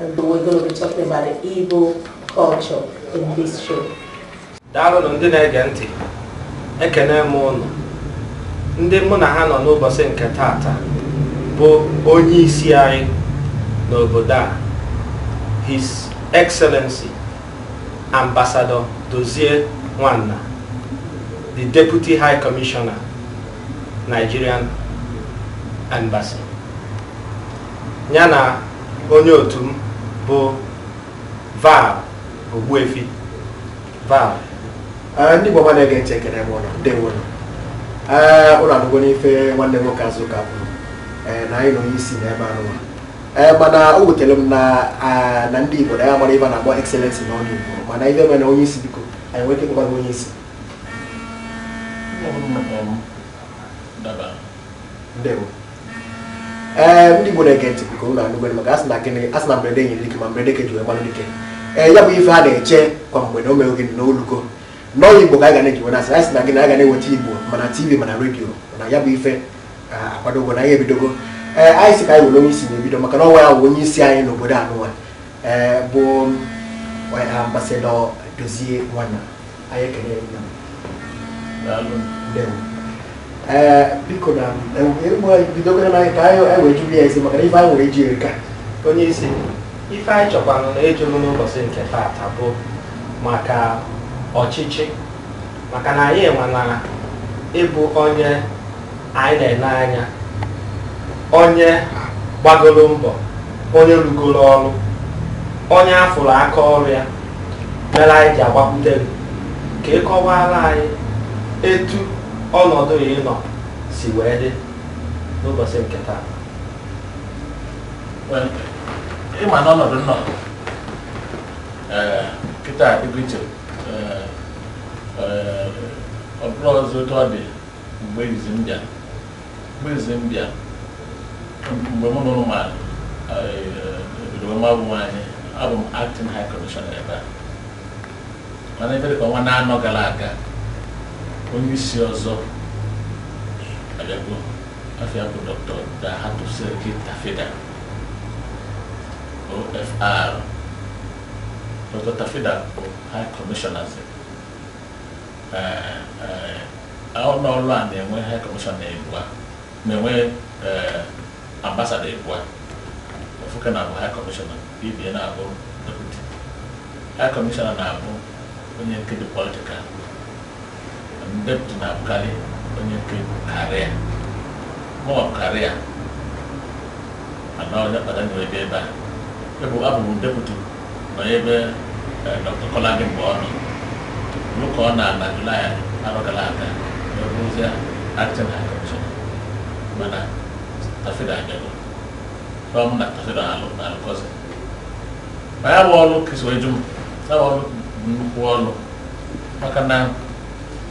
And we're going to be talking about the Igbo culture in this show. Daalụ ndị na-ege ntị, ekene m ụnụ. Ndị mụ na ha nọ n'ụbọchị nke taata bụ onye isi anyị n'obodo a, His Excellency Ambassador Dozie Nwanna, the Deputy High Commissioner, Nigerian Embassy. ya na onye otu m bụ Val Ogbuefi Val eh, ndị Igbo na-ege ntị ekene m unu ndewo nụ unu anụgo nụ ife nwanne m nwoke Azụka kwuru eh, na anyị na onye isi nọ ebe anụwa Eh, mana o wutere m na ah, na ndị Igbo na anyị amarọ ife a na-akpọ excellency n'ọnụ Igbo mana ife mere onye isi biko anyị nwere ike ịkpọba onye isi ndewo ee ndị Igbo na-ege ntị biko unu anụgo maka a sị na gịnị a sị na mberede nyịrị dike ma mberede ka e ji wee ma nụ dike ee ya bụ ife a na-eche kwa mgbe na o mee gịnị na o lugo n'ọnụ Igbo ka anyị ga na-eji wee na-asị asị na gịnị anyị ga na-eweta Igbo ma na TV ma na redio na ya bụ ife akwadogo na anyị ebidogo ee anyị sị ka anyị were onye isi na-ebido maka na ọ nwa ya bụ onye isi anyị n'obodo anụwa ee bụ Ambassador Dozie Nwanna anyị ekele ee biko na bidogara na ka anyị wee jụrụ ya ezi maka na ife anyị nwere ịjụ erika onye isi ife anyị chọkwanụ na ejụrụ n'ụbọchị nke taata bụ maka ọchịchị maka na anyị enwela ị bụ onye anyị na-ene anya onye gbagoro mbọ onye rụgoro ọrụ onye a fụrụ aka ọrụ ya mere anyị ji agbakwute gị ka ị kọwara anyị etu ọnọdụ a ị nọ si wee dị n'ụbọchị nke taa Well, ị ma na ọnọdụ m nọ ee kịta adịgo iche ee ee, ọ bụrọ ọzọ otu ọ dị mgbe izizi m bịara mgbe izizi m bịara mgbe mụ na unu ma ebido wee mabu onwe anyị abụ m acting high commissioner ebe a mana ife dịka ọnwa anọ gara aga onye isi ọzọ abịago afa ya bụ Doctor Dalhatu Sarki Tafida OFR Doctor Tafida bụ high commissioner ụlọ ọrụ a na-enwe high commission ịbụa na-enwe ambassador ịbụa ofu ke na-abụ high commissioner ibie na-abụ deputy high commissioner na-abụ onye nke dị political deputy na-abụkarị onye nke dị career mụ ọ career ana onye kpata nyere ebe a abụ m deputy nọ ebe eh, Dr. Kolade mgbe ọ nọ ruo ka ọ naa na Julaị arọ gara aga wee bụrụzie acting high commissioner mana Tafida abịago ọ mụ na Tafida alụ na-alụkọzi ma ya bụ ọrụ ka i si wee jụ m ya bụ ọrụ bụ nnukwu ọrụ maka na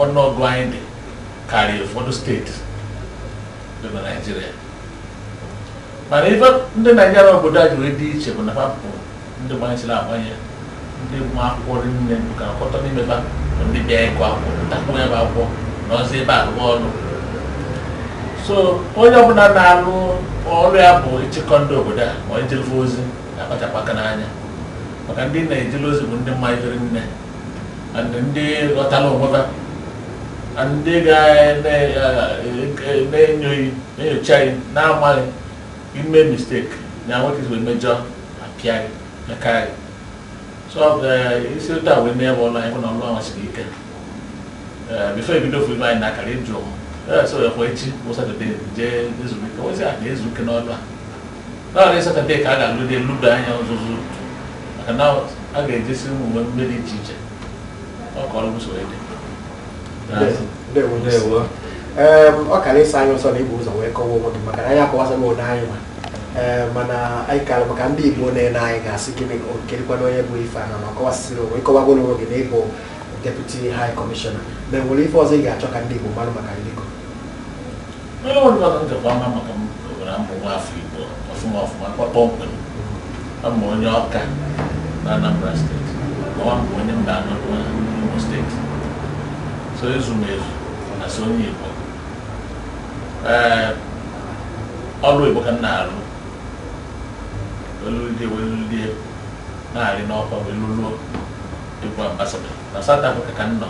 ọnụọgụ anyị dị karịa ụfọdụ steeti dị na Naịjirịa mana ife ndị Naịjirịa obodo a ji wee dị iche bụ na ha bụ ndị gbanyesiri agbanye ndị ma akwụkwọ rinne ka akọtọ n'ime ba bụ ndị bịa ịgụ akwụkwọ mụtakwu ya bụ akwụkwọ nọzie ebe a rụwa ọrụ so onye ọbụla na-arụ ọrụ ya bụ ịchịkọ ndị obodo a ma ọ ijele fa ozi na-akpachapụ aka n'anya maka ndị ị na-ejele ozi bụ ndị ma ife rinne and ndị ghọtara onwe ha and ndị ga-enyo gị enyocha gị na-amaghị ime mistake na nwoke wee mejọ a pịa gị meka gị so i si otu a wee mee bụ ụlọ anyị na ọlụ ahụ siri ike before e bido fụ ibe anyị na-akara ịjụ so ekwe echi bụ Satọde jee ezumike ozi a na-ezu ike n'ọlụ a naanị Satọde ka a ga-alụdị eludo anya ọzụzụ maka na a ga-ejesi ụmụ mmemme dị iche iche ọ ka ọrụ usoro dị Ndewo. ndewo Em, ọ kara ịsa anyị ọsọ na ibu ụzọ wee kọwa onwe gị maka na anyị akọwasa m onye anyị ma Ee, mana anyị kara maka ndị Igbo na-ele anyị ga-asị gịnị ọ kedịkwanụ onye bụ ife a na ọ kọwasịsịrị onwe ị kọwagoro onwe gị na ị bụ deputy high commissioner ma enwere ife ọzọ ị ga-achọ ka ndị Igbo mara maka gị Onye ọrụ mmadụ njikwa ama maka m gụgara m bụ nwa afọ Igbo ọfụma ọfụma kwa kpọmkwem. A m onye Ọka na Anambra steeti. Ọwa m bụ onye Mbanọ n'Imo steeti. So ezu m ezu na so onye Igbo. Ee, ọrụ oyibo ka m na-arụ. Wee lụlie wee lụlie na-arị n'ọkwa wee lụluo ịbụ ambassador. Na South Africa ka m nọ.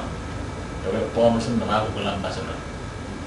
E wee kpọọ m sị na m abụrụla ambassador.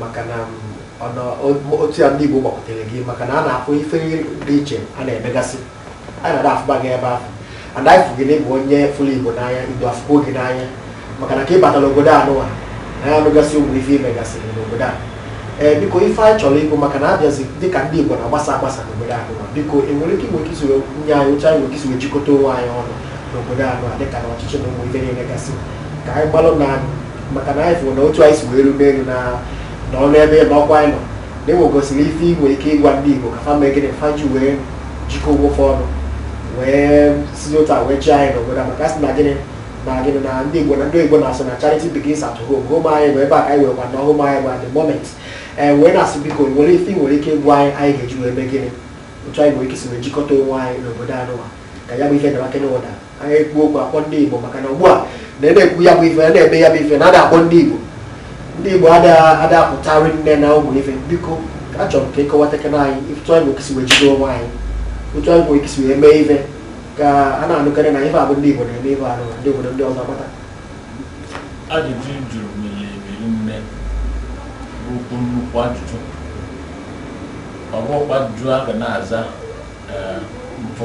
maka na otu ya ndị Igbo gbakọtere gị maka na a na-afụ ife dị iche a na-emegasị a na-ada afụba gị ebe ahụ and anyị fụ gị na ị bụ onye fụrụ Igbo n'anya Igbo afụkwuo gị n'anya maka na ka ị batara obodo anụwa na anyị anụgasị ụmụ ife i megasịrị n'obodo a ee biko ife anyị chọrọ ịbụ maka na a bịazi dịka ndị Igbo na-agbasa agbasa n'obodo anụwa biko i nwere ike nwere isi nye anyị uche anyị nwere ike isi jikọta onwe anyị ọnụ n'obodo anụwa dịka na ọchịchị na ụmụ ife na-emegasị ka anyị gbalụ na maka na anyị fụrụ na otu anyị si wee rue n'elu na na ọnụ ebe na ọkwa anyị nọ na e nwegasịrị ife i nwe ike ịgwa ndị Igbo ka fa mee gịnị fa ji wee jikọ onwe fa ọnụ wee si otu a wee chịa anyị n'obodo a maka sị na gịnị na gịnị na ndị Igbo na ndị Igbo na-asị na charity begins at home home anyị bụ ebe a ka anyị wee kwa na home anyị bụ at the moment ee wee na-asị biko o nwere ife i nwere ike ịgwa anyị anyị ga-eji wee mee gịnị otu anyị nwere ike si wee jikọta onwe anyị n'obodo anụwa ka ya bụ ife dara kenye ụda anyị ekwu okwu akpọ ndị Igbo maka na ugbu a na ị na-ekwu ya bụ ife a na-eme ya bụ ife na ada akpọ ndị Igbo ndị Igbo ada ada apụta rinne na ụmụ ife biko achọrọ m ka ị kọwatakana anyị otu anyị nwe ike isi wee jide onwe anyị otu anyị nwe ike isi wee mee ife ka a na-anụkarị na ife a bụ ndị Igbo na-eme ife anụ ndị obodo ndị ọzọ mata ajụjụ ị jụrụ mere ebiri nne bụ okwu nnukwu ajụjụ ọ bụkwa ajụjụ a ga na-aza ee, mpụ